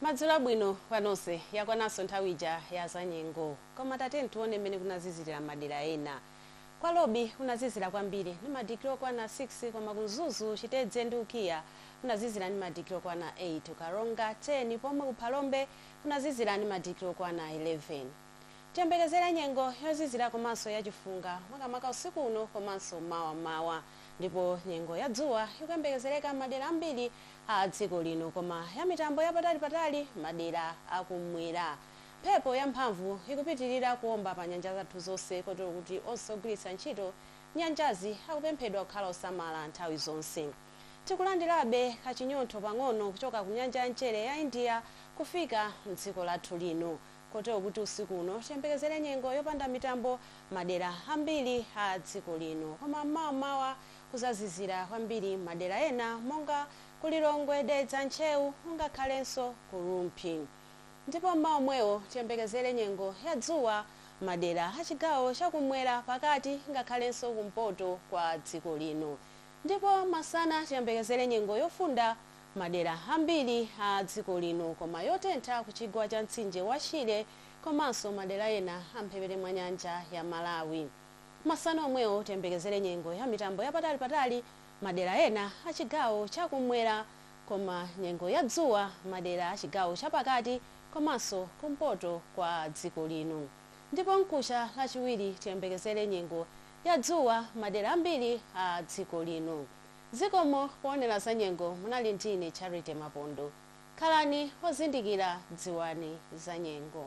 Madzulo abwino kwa nonse. Yakwananso nthawi ija ya zanyengo. Koma tatiyeni tione mmene kunazizirira m'madera ena. Kwa Lobi kunazizira kwambiri ndi madigiri okwana 6 koma ku Mzuzu, Chitedze ndi Ukiah kunazizira ndi madigiri okwana 8, ku Karonga 10 pomwe ku Phalombe kunazizira ndi madigiri okwana 11. Tiyembekezere nyengo yozizira komanso ya chifunga makamaka usiku uno komanso mawa m'mawa. Ndipo nyengo ya dzuwa ikuyembekezereka m'madera ambiri a dziko lino koma ya mitambo ya patali patali madera a ku m'mwera. Mphepo ya mphamvu ikupitirira kuomba pa nyanja zathu zonse kotero kuti onse ogwiritsa ntchito nyanjazi akupemphedwa kukhala osamala nthawi zonse. Tikulandirabe kachinyontho pang'ono kuchoka ku nyanja ya mchere ya India kufika m'dziko lathu lino. kotero kuti usiku uno tiyembekezere nyengo yopanda mitambo madera ambiri a dziko lino koma m'mawa mawa kuzazizira kwambiri madera ena monga ku Lilongwe, Dedza, Ntcheu ngakhalenso ku Rumphi ndipo m'mawa omwewo tiyembekezere nyengo ya dzuwa madera a chigawo cha kum'mwera, pakati ngakhalenso kumpoto kwa dziko lino ndipo masana tiyembekezere nyengo yofunda Madera ambiri a dziko lino koma yotentha ku chigwa cha mtsinje wa Shire komanso madera ena a mphepete mwa nyanja ya Malawi. Masana omwewo tiyembekezere nyengo ya mitambo ya patali patali madera ena a chigawo cha kummwera koma nyengo ya dzuwa madera a chigawo cha pakati komanso kumpoto kwa dziko lino. Ndipo mkucha lachiwiri tiyembekezere nyengo ya dzuwa madera ambiri a dziko lino. Zikomo poonera zanyengo munali ndi ine Charity Mapondo. Khalani ozindikira dziwani zanyengo.